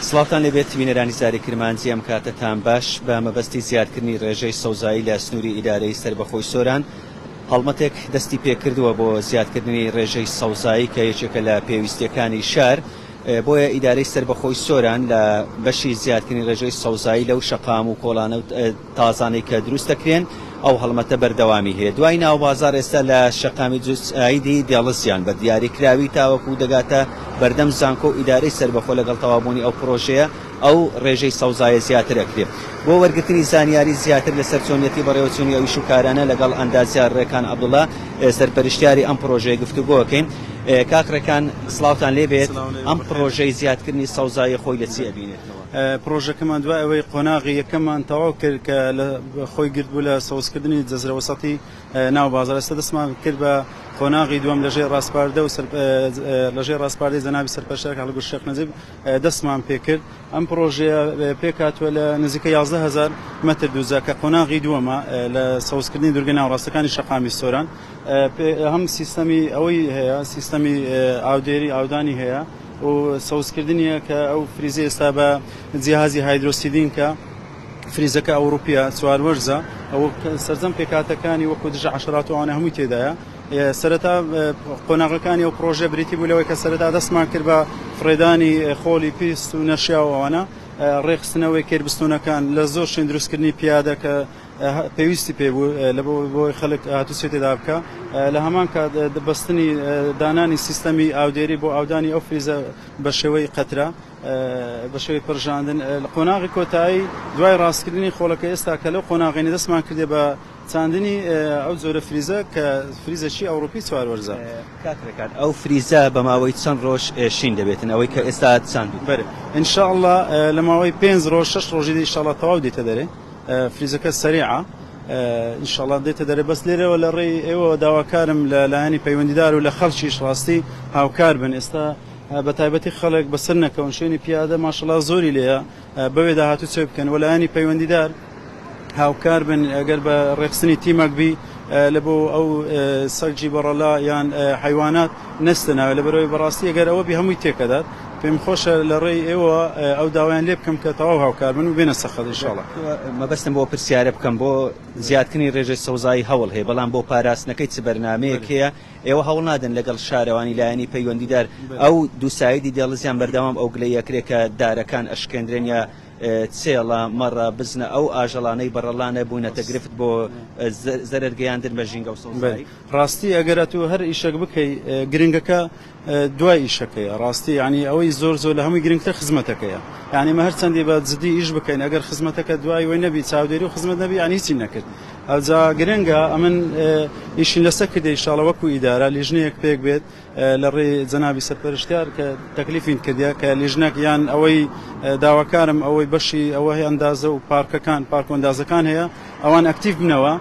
سڵاوتان لێبێت بینەرانی زاری کرمانجی ئەم کاتەتان باش بە مەبەستی زیادکردنی ڕێژەی سەوزایی لە سنووری ئیدارەی سربەخۆی سۆران هەڵمەتێک دەستی پێکردووە بۆ زیادکردنی ڕێژەی سەوزایی کە یەکێکە لە پێویستیەکانی شار بۆیە ئیدارەی سربەخۆی سۆران لە بەشی زیادکردنی ڕێژەی سەوزایی لەو شەقام و کۆڵانە تازانەی کە دروست دەکرێن ئەو هەڵمەتە بەردەوامی هەیە دوای ناوبازار ئێستا لە شەقامی جوس ئایدی دێڵسیان بە دیاری کراوی تاوەکو دەگاتە بەردەم زانکۆ و ئیدارەی سەربەخۆ لەگەڵ تەوابوونی ئەو پڕۆژەیە ئەو ڕێژەی سەوزایە زیاتر ئەکرێ بۆ وەرگرتنی زانیاری زیاتر لەسەر چۆنیەتی بەڕێوەچوونی ئەو ئیش و کارانە لەگەڵ ئەندازیار ڕێکان عەبدوڵا سەرپەرشتیاری ئەم پڕۆژەیە گفتوگۆ ئەکەین کاک ڕێکان سڵاوتان لێبێت ئەم پڕۆژەی زیادکردنی سەوزایی خۆی لە چی ئەبینێتەوە؟ پڕۆژەکەمان دوای ئەوەی قۆناغی یەکەممان تەواو کرد کە خۆی گرتبوو لە سەوزکردنی جەزرە وەسەتی ناو بازاڕ، ئێستا دەستمان کرد بە قۆناغی دووەم لەژێر ڕاسپاردە و لەژێر ڕاسپاردەی جەنابی سەرپەرشتیار کاک گوڵ شێخ نەجیب دەستمان پێ کرد. ئەم پڕۆژەیە پێک هاتووە لە نزیکەی یازدە هەزار مەتر دووجا کە قۆناغی دووەمە لە سەوزکردنی دوورگە ناوەڕاستەکانی شەقامی سۆران. هەم سیستەمی ئەوەی هەیە، سیستەمی ئاودێری، ئاودانی هەیە. و سەوز کردنیە کە ئەو فریزە ئێستا بە جیهازی هایدرۆ سیدین کە فریزەکە ئەوروپیە چوار وەرزە ئەو سەرجەم پێکاتەکانی وەکو دژە عشرات وانە هەمووی تێدایە سەرەتا قۆناغەکانی ئەو پرۆژە بریتی بوو لەوەی کە سەرەتا دەستمان کرد بە فڕێدانی خۆڵی پیست و نەشیاوانە ڕێخستنەوەی کێربستونەکان لە زۆر شوێن دروستکردنی پیادە کە پێویستی پێ بوو لەبەر بۆی خەلک هاتو چێ تێدا بکا لە هەمان کات بەستنی دانانی سیستەمی ئاودێری بۆ ئاودانی ئەو فریزە بە شێوەی قەترە بە شێوەی پرژاندن لە قۆناغی کۆتایی دوای ڕاستکردنی خۆڵەکە ئێستا کە لەو قۆناغینە دەستمان کردێ بە چاندنی ئەو جۆرە فریزە کە فریزەکی ئەوروپی چوار وەرزە. کاک ڕێکان ئەو فریزە بە ماوەی چەند ڕۆژ شین دەبێتن ئەوەی کە ئێستا چاندووتان؟ بەرێ ان شاء اللە لە ماوەی پێنج ڕۆژ شەش ڕۆژی دی ان شاء اللە تەواو دێتە دەرێ. فریزەکە سەریعە ان شاءاللە دێتە دەرێ بەس لێرەوە لە ڕێی ئێوەوە داواکارم لە لایەنی پەیوەندیدار و لە خەڵکیش ڕاستی هاوکار بن ئێستا بە تایبەتی خەڵک بەسەر نەکەون شوێنی پیادە ماشەڵا زۆری لێە بەوێ داهاتوو چێ بکەن و لایەنی پەیوەندیدار هاوکار بن ئەگەر بە ڕێخستنی تیمەک بی لە بۆ ئەو سەرجی بەڕەلا یان حیوانات نەستە ناوێ لەبەرئەوەی بەڕاستی ئەگەر ئەوەبی هەمووی تێکئەدات پێم خۆشە لەڕێی ئێوە ئەو داوایان لێ بکەم کە تەواو هاوکاربن و بێنە سەر خەت انشاءاللە. مەبەستم بۆ پرسیارە بکەم بۆ زیادکردنی رێژەی سەوزایی هەوڵ هەیە بەڵام بۆ پاراستنەکەی چ بەرنامەیەک هەیە ئێوە هەوڵ نادەن لەگەڵ شارەوانی لایەنی پەیوەندیدار ئەو دوو سایدی دێڵزیان بەردەوام ئەو گلەییە کرێ کە دارەکان ئەشکێندرێن یا چێڵە، مەڕە، بزنە ئەو ئاژەڵانەی بەڕەڵانە بوونەتە گرفت بۆ زەرەر گەیاندن بە ژینگە و سەوزایی. ڕاستی ئەگەر ئەتوو هەر ئیشەک بکەی گرنگەکە دوای ئیشەکەیە ڕاستی یانی ئەوەی زۆر زۆر لە هەمووی گرنگتر خزمەتەکەیە یانی مە هەرچەندی بە جدی ئیش بکەین ئەگەر خزمەتەکە دوای وەی نەبی چاودێری و خزمەت نەبی یانی هیچی نەکرد ئەوجا گرنگە ئەمن ئیشین لەسە کردی شاڵە وەکو ئیدارە لیژنەیەک پێک بێت لە ڕێی جەنابی سەرپەرشتیار کە تەکلیفین کردیە کە لیژنەک یان ئەوەی داواکارم ئەوەی بەشی ئەوە هەیە ئەندازە و پارکەکان پارک و ئەندازەکان هەیە ئەوان ئەکتیڤ بنەوە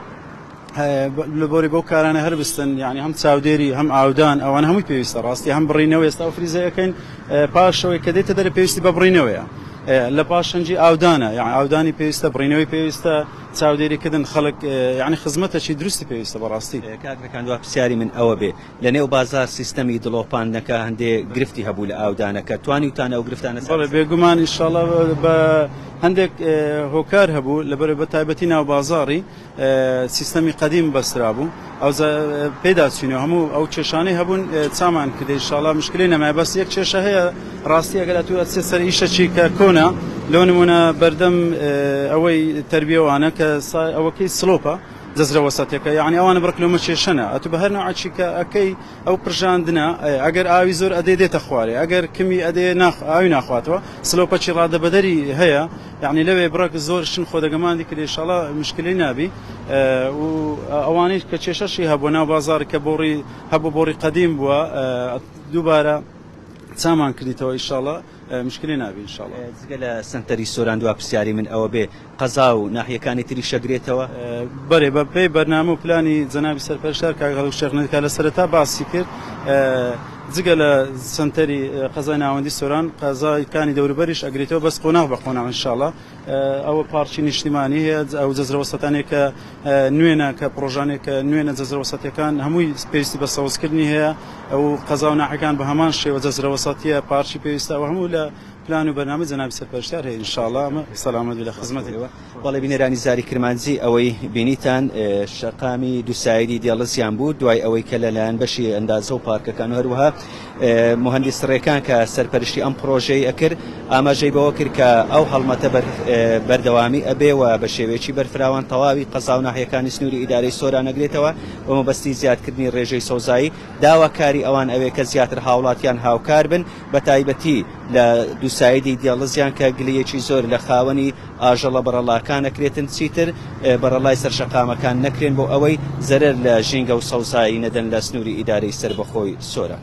لە بۆری بەو کارانە هەر بستن یعنی هەم چاودێری هەم ئاودان ئەوان هەمووی پێویستە ڕاستی هەم بڕینەوە ئێستا و فریزەکەین پاشەوەی کە دێتە دەرە پێویستی بە بڕینەوەیە لە پاشەنجی ئاودانە یان ئاودانی پێویستە بڕینەوەی پێویستە چاودێریکردن خەڵک یعنی خزمەتەکی دروستی پێویستە بەڕاستی کاکەکان دو پرسیاری من ئەوە بێ لە نێو بازار سیستەمی دڵۆپاندنەکە هەندێ گرفتی هەبوو لە ئاودانەکە توانیوتان ئەو گرفتانە سەر بەڵێ بێگومان ئیشاڵا بە هەندێک هۆکار هەبوو لەبەر بە تایبەتی ناو بازاری سیستەمی قەدیم بەسرا بوو ئەو پێدا چینە هەموو ئەو کێشانەی هەبوون چامان کردی ئیشاڵا مشکلی نەمای بەس یەک کێشە هەیە ڕاستی ئەگەر تو ئەچێت سەر ئیشەچی کە کۆنا لۆ نمونە بەردەم ئەوەی تربیەوانە کە ئەوەکەی سلۆپە جزرە وسطەکە یەعنی ئەوانە بڕک لۆمە کێشەنە ئەتو بە هەر نەوعەکی کە ئەکەی ئەو پرژاندنە ئەیە ئەگەر ئاوی زۆر ئەدێ دێتە خوارێ ئەگەر کمی ئەدێ ناخ ئاوی ناخواتەوە سلۆپەکی ڕادەبەدەری هەیە یەعنی لەوێ بڕەک زۆر شن خۆ دەگەماندی کرد ئیشاڵا مشکلی نابی و ئەوانەی کە کێشەشی هەبوو ناو بازار کە بۆڕی هەبوو بۆڕی قەدیم بووە دووبارە چامان کردیتەوە ئیشاڵا مشکلە نابێ ان شاءاللە. جگە لە سەنتەری سۆران دوا پرسیاری من ئەوەبێ قەزا و ناحیەکانی تریش ئەگرێتەوە؟ بەلی بە پێی بەرنامە و پلانی جەنابی سەرپەرشتار کاک هەڵکو شێخ نەدکا لە سەرەتا باسی کرد جگە لە سەنتەری قەزای ناوەندی سۆران قەزای کانی دەوروبەریش ئەگرێتەوە بەس قۆناغ بە قۆناغ ان شاءاللە. ئەوە پارکی نیشتیمانی هەیە، ئەو جەزرەوەسەتانەی کە نوێنە کە پڕۆژانەی کە نوێنە جەزرەوەسەتیەکان هەمووی پێویستی بە سەوزکردنی هەیە، ئەو قەزا و ناحیەکان بە هەمان شێوە جەزرەوەسەتیە پارکی پێویستە ئەوە هەموو لە پلان و بەرنامەی جەنابی سەرپەرشتیار هەیە ئینشاڵا ئەمە سەلامەت بێت لە خزمەتی بەڵێ بینەرانی زاری کرمانجی ئەوەی بینیتان شەقامی دوو سایدی دێڵزیان بوو دوای ئەوەی کە لەلایەن بەشی ئەندازە و پارکەکان و هەروەها موهەندیس رێکان کە سەرپەرشتی ئەم پڕۆژەی ئەکرد ئاماژەی بەوە کرد کە ئەو هەڵمەتە بەردەوامی ئەبێ و بە شێوەیەکی بەرفراوان تەواوی قەزا و ناحیەکانی سنووری ئیدارەی سۆران ئەگرێتەوە بە مەبەستی زیادکردنی رێژەی سەوزایی، داواکاری ئەوان ئەوێ کە زیاتر هاوڵاتیان هاوکار بن بە تایبەتی لە دوسایدی دێڵزیان کە گلەیەکی زۆر لە خاوەنی ئاژەڵە بەڕەڵاکان ئەکرێتن چیتر بەڕەڵای سەر شەقامەکان نەکرێن بۆ ئەوەی زەرەر لە ژینگە و سەوزایی نەدەن لە سنووری ئیدارەی سەربەخۆی سۆران.